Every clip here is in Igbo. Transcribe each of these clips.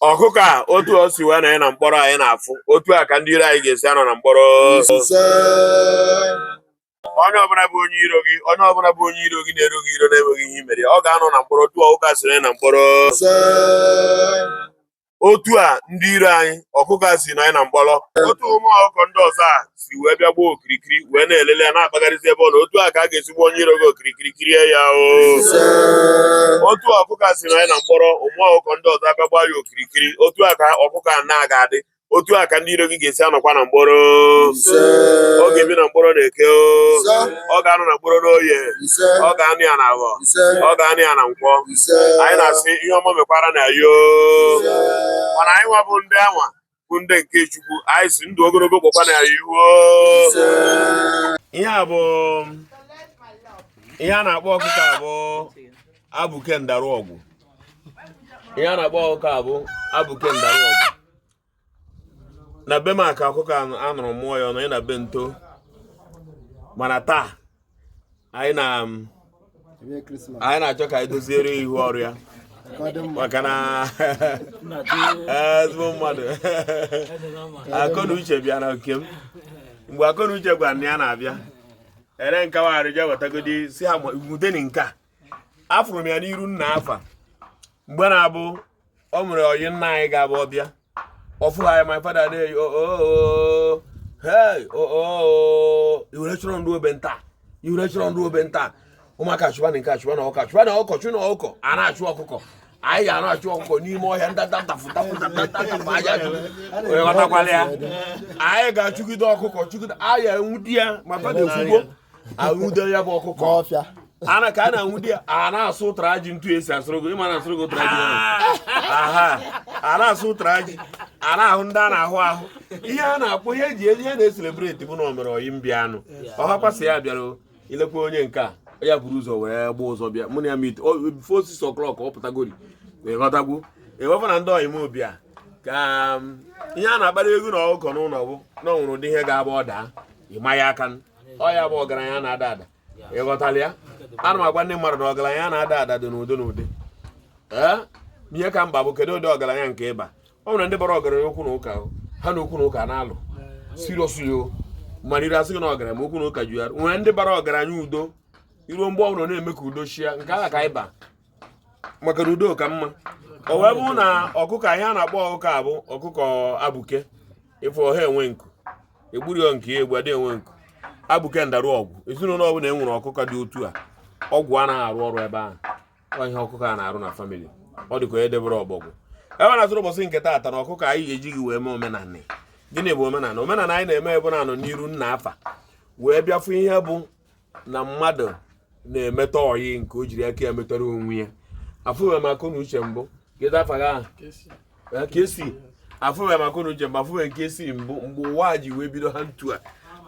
ọkụkọ a otu o si wee nọnye na mkpọrọ anyị na-afụ otu a ka ndị iro anyị ga-esi anọ na mkpọrọ onye ọbụla bụ onye iro gị na-ero gị iro na-enweghị ihe i mere ya ọ ga-anọ na mkpọrọ otu ọkụkọ a si nọnye na mkpọrọ otu a ndị iro anyị ọkụkọ a si nọnye na mkpọrọ otu ụmụ ọkụkọ ndị ọzọ a si wee bịa gbaa okirikiri wee na-elele ya na-akpagharịzi ebe ọ nọ otu a ka a ga-esi gba onye iro gị okirikiri kirie ya o otu ọkụkọ a si nọnye na mkpọrọ ụmụ ọkụkọ ndị ọzọ abịa gbaa ya okirikiri otu a ka ọkụkọ a na-aga adị otu a ka ndị iro gị ga-esi anọkwa na mkpọrọ ọ ga-ebi na mkpọrọ n'eke o ọ ga-anọ na mkpọrọ n'oye ọ ga-anọ ya na afọ ọ ga-anọ ya na nkwọ anyị na-asị ihe ọma mekwara anyị o mana anyị nwa bụ ndị anwa bụ ndị nke Chukwu anyị sị ndụ ogologo kpọkwa anyị ihu ihe a bụ ihe a na-akpọ ọkụkọ a bụ abụke ndarụ ọgwụ ihe a na-akpọ ọkụkọ a bụ abụke ndarụ ọgwụ na be maka ọkụkọ anụrụ mụọ ya ọnụ ị na be nto mana taa anyị na anyị na-achọ ka anyị doziere ihu ọrụ ya maka na ezigbo mmadụ Akọnuche bịa na nke m mgbe Akọnuche gwara na ya na-abịa ere nkawagharị je wetagodi sị ha nwudeni nke a afụrụ m ya n'iru nna afa mgbe na-abụ o nwere ọyị nna anyị ga-abụ ọ bịa ọ fụ ha my father na-eyi oo oh, oh, oh, hey oo e wee chọrọ ndị obe nta e wee chọrọ ndị obe nta ụmụaka chụwa na nke achụwa na ọka chụwa na ọkọ chụ na ọkọ a na-achụ ọkụkọ anyị ga na-achụ ọkụkọ n'ime ọhịa ịghọtakwala ya anyị ga-achụgide ọkụkọ chụgide anyị nwute ya my father ekwugbo anwude ya bụ ọkụkọ ọfịa ana ka a na-anwude ya a na-asụ ụtara ji otu esi asụrụ gị ịma na-asụrụ gị ụtara ji aha a na-asụ ụtara ji a na-ahụ ndị a na-ahụ ahụ ihe a na-akpọ ihe eji ihe na-e-celebrate bụ na o nwere ọyị m bịanụ ọhakwasị ya bịara ilekwa onye nke a ya buru ụzọ wee gba ụzọ bịa mụ na ya meet before six o'clock ọ pụtagori ịghọtago ewepụ na ndị ọyị m bịa ka um, ihe a na-akpara egwu na ọkụkọ n'ụlọ bụ na o nwere ụdị ihe ga-abụ ọ daa ịma ya aka ọ ya bụ ọgaranya na-ada ada ịghọtala ya ana m agwa ndị mmadụ na ọgaranya na-ada ada dị n'ụdị n'ụdị ee ihe ka mkpa bụ kedu ụdị ọgaranya nke ị ba ọ nwere ndị bara ọgaranya okwu na ụka ha na okwu na ụka na-alụ siriosuyo maliri a sị gị na ọgaranya ma okwu na ụka ju ya nwere ndị bara ọgaranya udo i ruo mgbe ọbụla na-eme ka udo chia nke ahụ ka ịba maka na udo ka mma o wee bụrụ na ọkụkọ ihe a na-akpọ ọkụkọ a bụ ọkụkọ abụke ị fụ ọ ha enwe nku egburu ya nke ya egbu adị enwe nku abụke ndarụ ọgwụ ezinụlọ ọbụla e nwere ọkụkọ dị otu a ọgwụ anaghị arụ ọrụ ebe ahụ ọ ihe ọkụkọ a na-arụ na famili ọ dịka onye debere ọbọgwụ e wee na-asị n'ụbọchị nke taata na ọkụkọ anyị ga-eji gị wee mee omenala gịnị bụ omenala omenala anyị na-eme ebe na-anọ n'iru nna afa wee bịafụ ihe bụ na mmadụ na-emeta ọyị nke o jiri aka ya metara onwe ya afụghị m akọnuche mbụ kedu afa gị ahụ Eh, ka esi afụghị m akọnuche mbụ afụghị nke esi mbụ mgbe ụwa a ji wee bido ha ntu a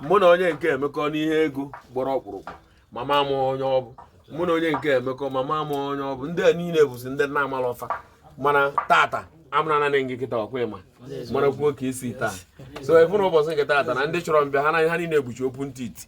mụ na onye nke emekọ n'ihe ego gbọrọ ọkpụrụkpụ mama m onye ọ bụ mụ na onye nke emekọ mama m onye ọ bụ ndị a niile bụzi ndị na-amala ọfa mana tata amụna nanị gị kịta ọkwa ịma mara kwuo ka esi taa so ịfụ na ụbọchị nke tata na ndị chọrọ m bịa ha na ha niile ekpuchi okwu ntị iti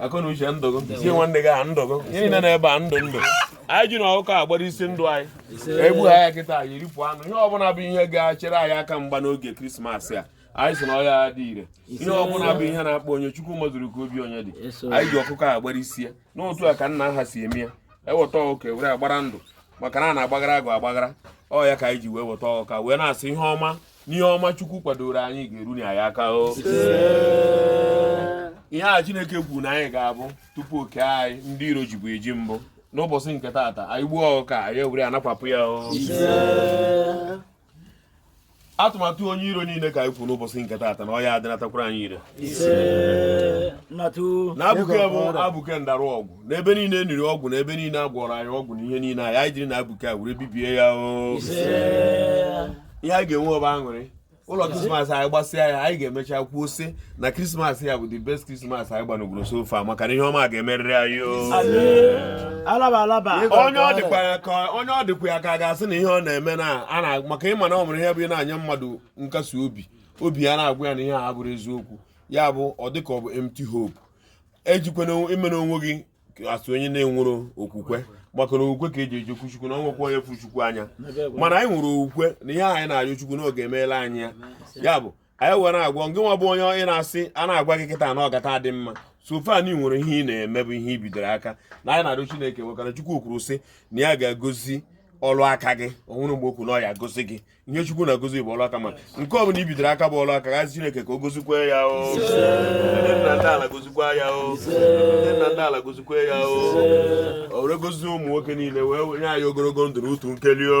akọnuche ndụ gị si nwanne gị a ndụ gị ihe niile n'ebe a ndụ ndụ anyị ji na ọkụkọ agbara isi ndụ anyị egbu ha ya kịta anyị eripụ anụ ihe ọbụla bụ ihe ga-achere anyị aka mgba n'oge krismas a anyị si na ọ ya adị ire ihe ọbụla bụ ihe na-akpọ onye chukwu mazuru ka obi onye dị anyị ji ọkụkọ agbara isi ya n'otu a ka nna ha si eme ya eweta ọkụkọ e were agbara ndụ maka na a na-agbagara agụ agbagara ọ ya ka anyị ji wee weta ọkụkọ wee na-asị ihe ọma n'ihe ọma chukwu kwadoro anyị ga-eru na ya aka o ihe a chineke kwuru na anyị ga-abụ tupu o kee anyị ndị iro jibu eji mbụ n'ụbọchị nke taata anyị gbuo ọkụkọ anyị ewere anakwapụ ya o atụmatụ onye iro niile ka anyị kwuru n'ụbọchị nke taata na ọ ya adịnatakwara anyị ire na abụke bụ abụke ndarụ ọgwụ n'ebe niile e niri ọgwụ na ebe niile a gwọrọ anyị ọgwụ na ihe niile anyị anyị jiri na abụke a were bibie ya o ihe anyị ga-enwe ọ bụ aṅụrị ụlọ krismas anyị gbasịa ya anyị ga-emecha kwuo sị na krismas ya bụ the best krismas anyị gbanogoro so far maka na ihe ọma ga-emerịrị anyị onye ọ dịkwa ya ka onye ọ dịkwa ya ka a ga-asị na ihe ọ na-eme na ana maka ị ma na ọ nwere ihe bụ ị na-anye mmadụ nkasi obi obi ya na-agwa ya na ihe a bụrụ eziokwu ya bụ ọ dịka ọ bụ empty hope ejikwana imere onwe gị asị onye na-enwere okwukwe maka na okwukwe ka e ji ejekwu chukwu na o nwekwa onye fụ chukwu anya mana anyị nwere okwukwe na ihe anyị na-arịọ chukwu na ọ ga-emere anyị ya ya bụ anyị were agwa ngị nwa bụ onye ị na-asị a na-agwa gị kịta na ọ gata adị mma so far na i nwere ihe ị na-eme bụ ihe i bidoro aka na anyị na-arịọ chineke maka na chukwu kwuru sị na ya ga-agozi ọlụ aka gị o nwero mgbe o kwu na ọ ya agozi gị ihe chukwu na-agozi bụ ọlụ aka ma nke ọ bụla i bidoro aka bụ ọlụ aka gị asị chineke ka o gozikwa ya o ndị nna ndị ala gozikwa ya o ndị nna ndị ala gozikwa ya o o were gozi ụmụ nwoke niile wee nye anyị ogologo ndụ na utu nkeli o